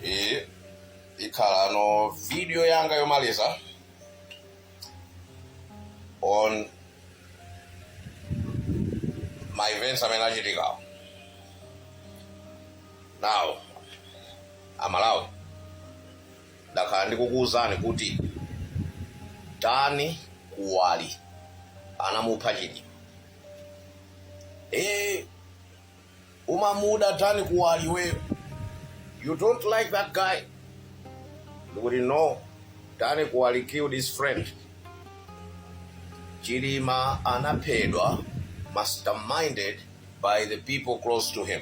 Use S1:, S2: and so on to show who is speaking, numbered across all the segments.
S1: iyi ikhala ndi video yanga yomaliza on my events amene achitikawo now amalawi Ndakhala ndikukuuzani kuti Dan Kuwali anamupha Chilima. Eh, umamuda Dan Kuwali iweyo. You don't like that guy. Ndikuti no, Dan Kuwali killed his friend. Chilima anaphedwa masterminded by the people close to him.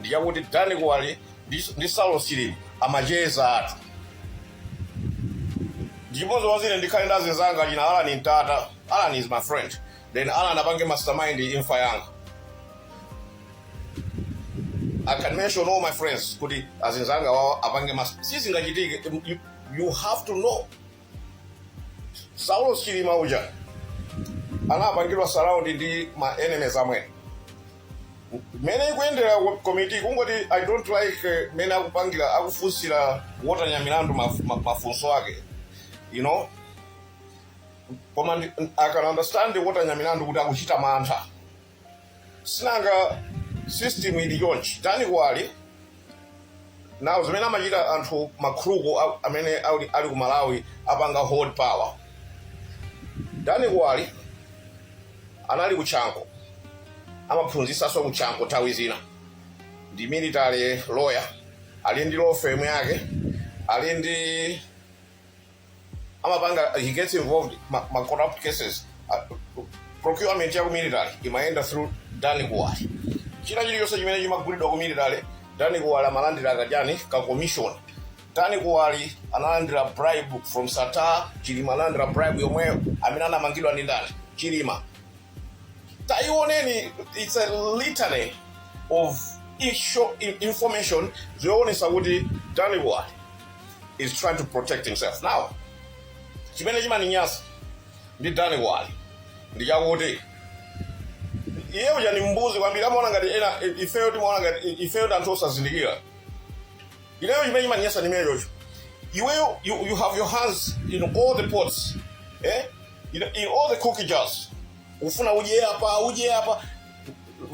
S1: ndichakuti Dan Kuwali ndi, ndi Saulosi amachezatu ndichimodzimodzi ine ndikhale ndi azinzanga achina Alan Mtata Alan is my friend then Alan apange mastermind imfa yanga I can mention all my friends kuti azinzanga wawo apange mas sizingachitike you, you have to know saulos chilima uja anapangidwa surround ndi ma enemies amwene mmene ikuyendera ko- komiti kungoti i don't like eh, mmene akupangira akufunsira wotenya milandu maf- ma- mafunso ake you know koma i can understand wotenya milandu kuti akuchita mantha sinanga system ili chonchi dani kuwali nayo zimene amachita anthu akuluakulu a- amene ali ali ku malawi apanga hold power dani kuwali anali kuchanko amaphunzitsanso kuchanko nthawi zina ndi military lawyer ali ndi law firm yake ali ndi amapanga he gets involved ma, ma corrupt cases uh, procurement ya ku military imayenda through dani kuwali china chilichonse chimene chimagulidwa ku military dani kuwali amalandira kajani ka commission dani kuwali analandira bribe from sattar chilima analandira bribe yomweyo amene anamangidwa ndi ndani chilima taioneni it's a litany of insho- in- information zoonesa kuti dani kuwali is trying to protect himself now chimene chimaninyasa ndi dani kuwali ndi chakuti iye uja ndi mbuzi kwambiri amaona ngati ena ifeyo timaona ngati ifeyo ndi anthu osazindikira ineyo chimene chimandinyasa ndi chimenecho iweyo you, you have your hands in all the pots eh? in, in all the cookie jars ufuna udye apa udye apa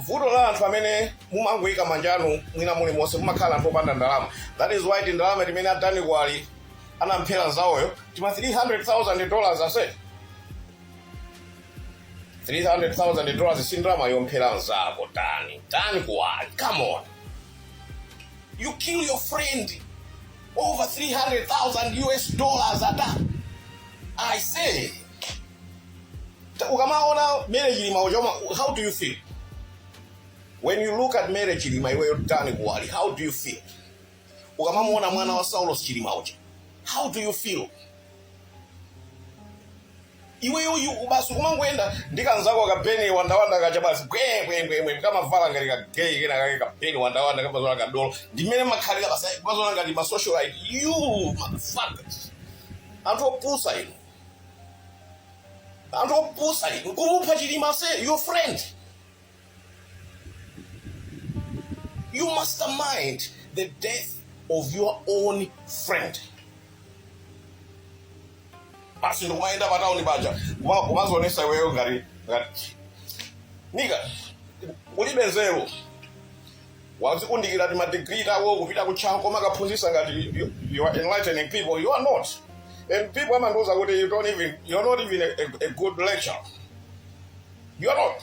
S1: vuto la anthu amene mumangoyika manja anu mwina mulimonse mumakhala anthu opanda ndalama that is why tindalama timene a Dani Kuwali anamphera nzawoyo tima 300000 dollars ase 300000 dollars si ndalama yomphera nzako Dani Dani Kuwali come on You kill your friend over 300,000 US dollars at that. I say, ukamaona Mary Chilima uchoma, how do you feel? When you look at Mary Chilima iwe yotani kuwali, how do you feel? Ukamamuona mwana wa Saulos Chilima uja, how do you feel? Iweyo uyu basi umangoyenda ndi kanzako ka Beni Wandawanda kaja basi bwembwembwembwe kamavala ngati ka gay kena kake ka Beni Wandawanda kamazola ka dolo ndimene makhalira basi ayi, kamazola ngati ma socialite you motherfuckers anthu opusa inu anthu opusa inu kumupha Chilima ase your friend You mastermind the death of your own friend. Basi ndo kumaenda patauni paja Kuma- kumazionesa iweyo ngati ngati nigga ulibe nzeru wazikundikira ti madigiri tako kupita ku Chanco kumakaphunzisa ngati you- you are enlightening people you are not and people amandiuza kuti you don't even you're not even a, a, a good lecturer you are not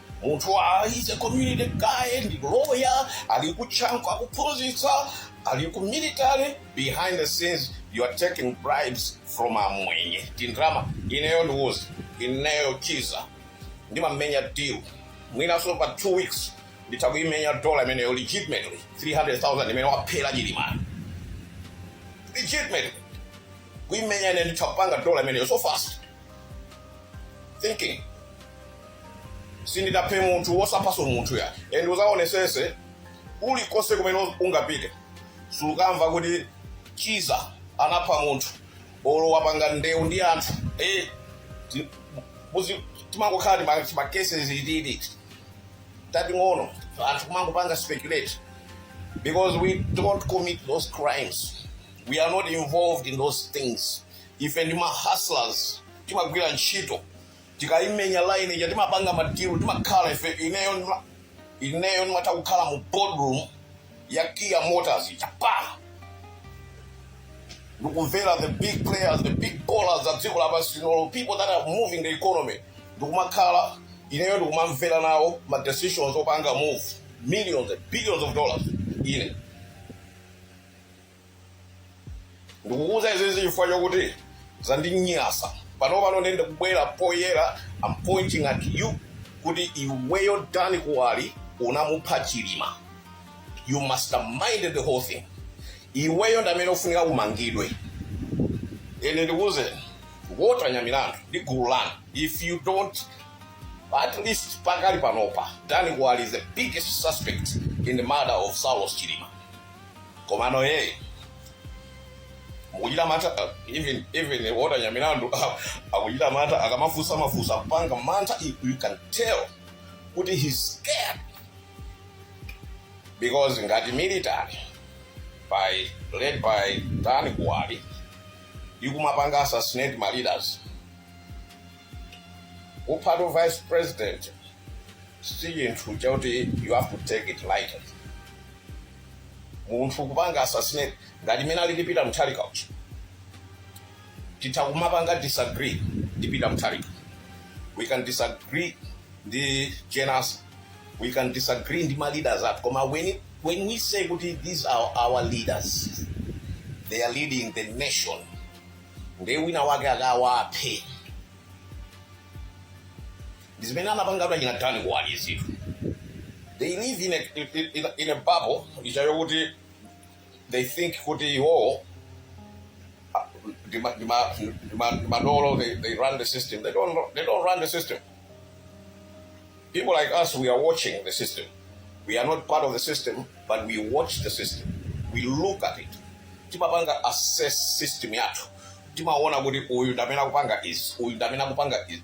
S1: Munthu wa he's a community guy ndi lawyer ali ku Chanco akuphunzitsa ali ku military behind the scenes you are taking bribes from amwenye tindrama ineyo ndikuuze ineyo Chiza ndimamenya deal mwinaso pa 2 weeks nditha kuimenya dola imeneyo legitimately 300000 imene waphera Chilimayi legitimately kuimenya ine nditha kupanga dola imeneyo so fast thinking sinditapha munthu wosaphaso munthu ya and uzaonesese ulikonse kumene ungapite sukamva kuti Chiza anapha munthu olo wapanga ndewu ndi anthu eh, ti- muzi- timangokhala ndi ma- ma cases ititi tating'ono anthu kumangopanga speculate because we don't commit those crimes we are not involved in those things ife ndi ma hustlers timagwira ntchito tikaimenya line ija timapanga madilu timakhala ife ineyo ndima- ineyo ndimatha kukhala mu boardroom ya Kia Motors chapa ndikumvera the big players the big ballers za dziko lapansi linoli people that are moving the economy ndikumakhala ineyo ndikumamvera nawo ma decisions opanga move millions and billions of dollars ine ndikukuuza izizi chifukwa chokuti zandinyasa pano pano nende kubwera poyera I'm pointing at you kuti iweyo dani kuwali unamupha chilima you masterminded the whole thing iweyo ndamene ukufunika umangidwe and ndikuuze Walter nyamilandu ndi gulu lanu if you don't at least pakali panopa dani kuwali is the biggest suspect in the murder of saulos chilima komano iyeyo akuchita mantha uh, even even Walter nyamilandu akuchita mantha akamafunsa mafunso akupanga mantha you you can tell kuti he's scared because ngati military led by dan kuwali ikumapanga assassinate ma leaders kupha the vice president si chinthu chakuti you have to take it lightly munthu kupanga assassinate ngati mmene alili peter mutharika uja titha kumapanga disagree ndi peter mutharika we can disagree ndi generals we can disagree ndi ma leaders athu koma when, it- when we say kuti these are our leaders they are leading the nation nde wina wake akawaphe ndi zimene anapanga kuti achina dani kuwali izitu they live in a, in, in, in a bubble yawo kuti they think kuti iwowo ah, ndi ma- ndi ma- ndi ma- ndi madolo they, they run the system they don't, they don't run the system people like us we are watching the system we are not part of the system but we watch the system we look at it timapanga assess system yathu timaona kuti uyu ndamene akupanga izi uyu ndamene akupanga izi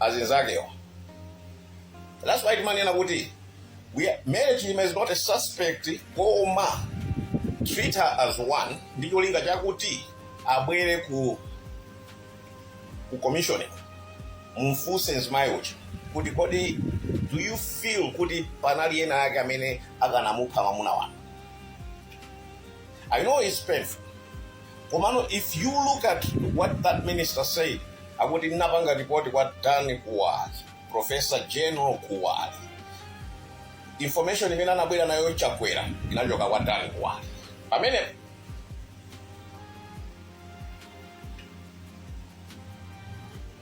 S1: azinzakewo that's why timanena kuti Mary Chilima is not a suspect koma treat her as one ndi cholinga chakuti abwere ku ku commission mumfunse mzimayi uja kuti kodi do you feel kuti panali ena ake amene akanamupha mwamuna wanu I know it's painful. Komano, if you look at what that minister said, akuti anapanga report kwa Dan Kuwali, Professor General Kuwali. Information imene anabwera nayo chakwera inachoka kwa Dan Kuwali. Pamene